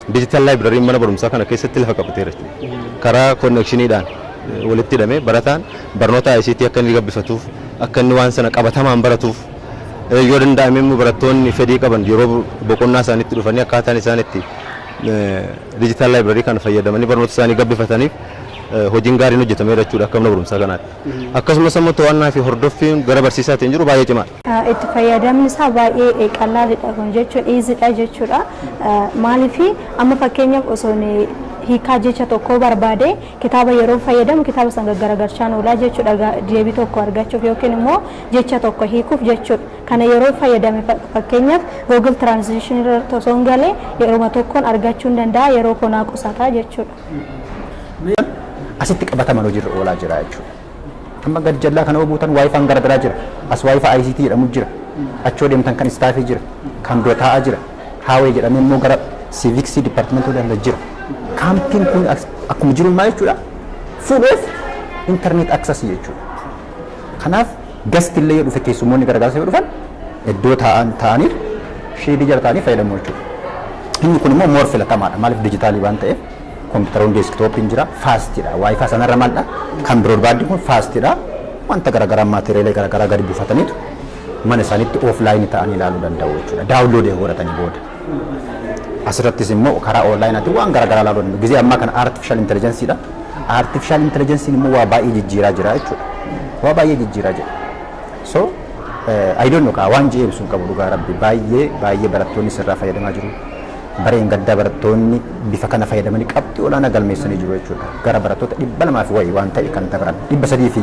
Digital Library mana barumsaa kana keessatti lafa qabateera jechuudha. Karaa connection dhaan walitti hidhamee barataan barnoota ICT akka inni gabbifatuuf, akka inni waan sana qabatamaan baratuuf, yoo danda'ame immoo barattoonni fedhii qaban yeroo boqonnaa isaaniitti dhufanii akkaataan isaan itti Digital Library kana fayyadamanii barnoota isaanii gabbifataniif hojiin gaariin hojjetameera jechuudha akka mana barumsaa kanaatti. Akkasumas immoo to'annaa fi hordoffiin gara barsiisaatiin jiru baay'ee cimaadha. Itti fayyadamni isaa baay'ee qallaalidha kun jechuun easy dha jechuudha. Maaliif amma fakkeenyaaf osoo hiikaa jecha tokkoo barbaade kitaaba yeroo fayyadamu kitaaba san gaggaragalchaan oolaa jechuudha deebii tokko argachuuf yookiin immoo jecha tokko hiikuuf jechuudha. Kana yeroo fayyadame fakkeenyaaf Google Translation irratti osoo hin galee yeruma tokkoon argachuu hin danda'a yeroo konaa qusataa jechuudha. Asitti qabatamaan hojiirra oolaa jira jechuudha. Amma gad jallaa kana obuutan waayifaan gara biraa jira. As waayifaa ICT jedhamu jira. Achoo deemtan kan istaafii jira. Kan dura taa'aa jira. Haawee jedhamee immoo gara siiviksii dipartimentii hunda jira. Kaampiin kun as- akkuma jiru maa jechuudha? Full of internet access jechuudha. Kanaaf gasti illee yoo dhufe keessummoonni gargaarsa yoo dhufan iddoo taa'an taa'anii sheedii jala taa'anii fayyadamu jechuudha. Inni kun immoo moor filatamaadha. Maaliif dijitaalii waan ta'eef Kompiitaroonni deeskitooppiin jira faastidha. Waayifaa sanarra maalidha? Kan biroodbaandiin kun faastidha. Wanta garaagaraa maateriyalee garaagaraa gadi buufataniitu mana isaaniitti ooflaayinii ta'anii ilaaluu danda'u jechuudha. Daawunloodii godhatanii booda. Asirrattis immoo karaa oonlaayinaatiin waan garaagaraa ilaaluu danda'u. Gizee ammaa kana aartifishaal intelijensiidha. Aartifishaal intelijensiin immoo waa baay'ee jijjiiraa jira jechuudha. Waa baay'ee jijjiiraa jira. So I don't know kaa waan je'eemsu hin qabu dhugaa rabbi baay'ee baay'ee barattoonni sirraa fayyadamaa jiru. Bara dheengaddaa barattoonni bifa kana fayyadamanii qabxii olaanaa galmeessanii jiru jechuudha. Gara barattoota dhibba lamaa fi wayii waan ta'e kan dabran dhibba sadii fi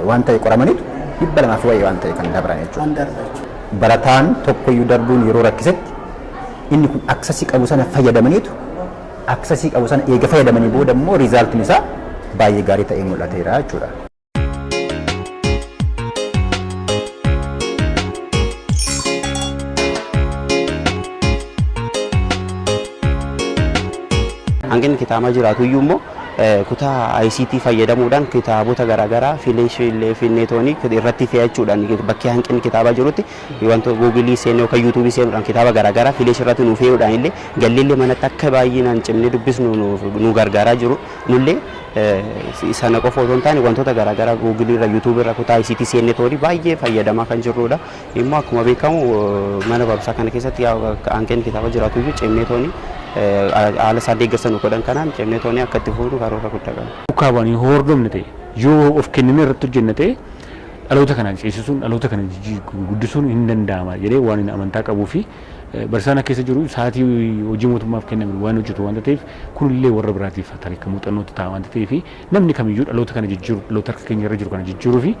waan ta'e qoramaniitu dhibba lamaa fi wayii waan ta'e kan dabran jechuudha. Barataan tokkoyyuu darbuun yeroo rakkisetti inni kun aksasii qabu sana fayyadamaniitu aksasii qabu sana eega fayyadamanii booda immoo riizaaltiin isaa baay'ee gaarii ta'ee mul'ateera jechuudha. hanqinni kitaamaa jiraatu iyyuu immoo kutaa ICT fayyadamuudhaan kitaabota garaagaraa fileeshiilee fi neetoonii irratti fe'achuudhaan bakkee hanqinni kitaabaa jirutti wanta guugilii seenuu yookaan yuutuubii seenuudhaan kitaaba garaagaraa fileeshii irratti nuuf fe'uudhaan illee galleellee manatti akka baay'inaan cimnee dubbisnu nu gargaaraa jiru. Nullee sana qofa otoo hin taane wantoota garaagaraa Google irra, YouTube irra, kutaa ICT seennee tooni baay'ee fayyadamaa kan jirrudha. Immoo akkuma beekamu mana barumsaa kana keessatti hanqinni kitaaba jiraatu iyyuu cimnee tooni haala isaan deeggarsa nu godhan kanaan cimnee tooni akka itti fufnu karoora guddaa qabna. Duukaa bu'anii yoo hordofne ta'e, yoo of kennine irratti hojjenne ta'e dhaloota kana ceesisuun, dhaloota kana guddisuun hin danda'ama jedhee waan amantaa qabuu fi Barsiisaan akka keessa jiru sa'aatii hojii mootummaaf kenname waan hojjetu waanta ta'eef kunillee warra biraatiif tarii muuxannootti ta'a waanta ta'eef namni kamiyyuu dhaloota kana jijjiiru dhaloota harka keenya irra jiru kana jijjiiruu fi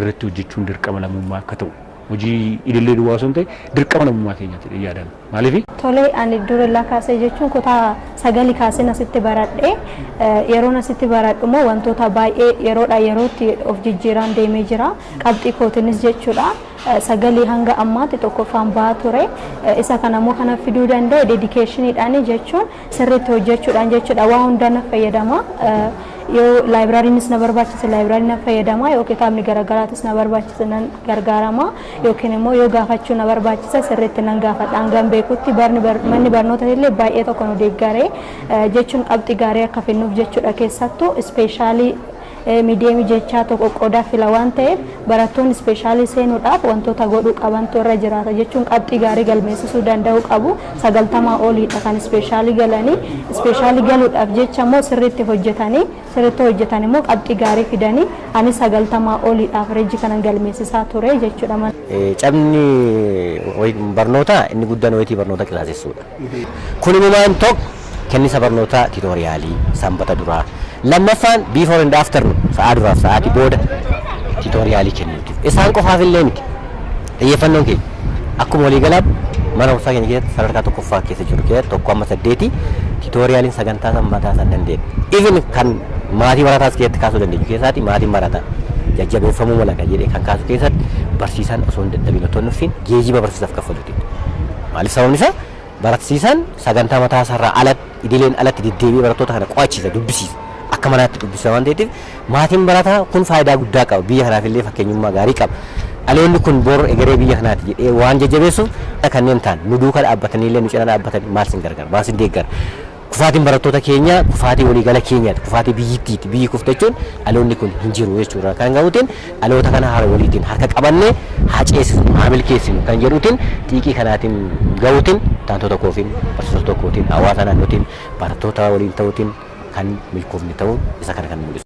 irratti hojjechuun dirqama lammummaa akka ta'u hojii idilee duwwaa osoo hin ta'e dirqama lammummaa keenyaati jedhee yaadaan maaliif Tole ani durillaa kaasee jechuun kutaa sagali kaaseen asitti baradhe yeroon asitti baradhu immoo wantoota baay'ee yeroodha yerootti of jijjiiraan deemee jira qabxii kootinis jechuudha sagalee hanga ammaatti tokkoffaan bahaa ture. Isa kana immoo kana fiduu danda'e dedikeeshiniidhaani jechuun sirriitti hojjechuudhaan jechuudha. Waa hundaa na fayyadama. Yoo laayibiraariinis na barbaachise laayibiraarii na fayyadama yoo kitaabni garaagaraatis na barbaachise nan gargaarama yookiin immoo yoo gaafachuu na barbaachise sirriitti nan gaafadha hangan beekutti barni manni barnoota illee baay'ee tokko nu deeggaree jechuun qabxii gaarii akka finnuuf jechuudha keessattuu ispeeshaalii Miidiyeemii jechaa tokko qodaa fila waan ta'eef barattoonni ispeeshaalii seenuudhaaf wantoota godhuu qabantu irra jiraata jechuun qabxii gaarii galmeessisuu danda'uu qabu. Sagaltamaa oliidha kan ispeeshaalii galanii. Ispeeshaalii galuudhaaf jecha immoo sirriitti hojjetanii sirriitti hojjetan immoo qabxii gaarii fidanii ani sagaltamaa oliidha averejii kanan galmeessisaa ture jechuudha. Cabni barnootaa inni guddaan wayitii barnoota qisaasessuudha. Kun imumaan 1. Kennisa barnootaa titoriyaalii sanbata duraa 2ffaan before and after nu, sa'aa duraa fi sa'aatii booda titoriyaalii kennuuti. Isaan qofaaf illee miti. Xiyyeeffannoon keenya akkuma walii galaatti mana barumsaa keenya keessatti sadarkaa 1ffaa keessa jirru keessatti 1-8 titooriyaaliin sagantaa sanbataa san dandeenye. Even kan maatii barataas keessatti kaasuu dandeenyu keessaati maatiin barataa jajjabeeffamuu mala kan jedhee kan kaasu keessatti barsiisaan osoo hin dadhabin otoo hin nuffiin geejiba barsiisaaf kaffalu. Maaliif sababni isaa baratisiisaan sagantaa mataa isaa irraa ala idileen alatti deddeebi'ee barattoota kana qo'achiisa dubbisiisa akka manaatti dubbisa waan ta'eetiif maatiin barataa kun faayidaa guddaa qaba biyya kanaaf illee fakkeenyummaa gaarii qaba dhaloonni kun bor egeree biyya kanaati jedhee waan jajjabeessuuf kanneen ta'an nu duuka dhaabbatanii illee nu cina dhaabbatanii maal sin gargaara maal sin deeggara Kufaatiin barattoota keenyaa kufaatii waliigala keenyaati, kufaatii biyyittiiti. Biyyi kufte jechuun dhaloonni kun hin jiru jechuurraa kan ka'uutiin dhaloota kana hara waliitiin harka qabannee haa ceesifnu, haa milkeessinu kan jedhuutiin xiiqii kanaatiin ga'uutiin taantoota koofiin, barsiisota kootiin, hawaasa naannootiin, barattoota waliin ta'uutiin kan milkoofne ta'uu isa kana kan mul'isu.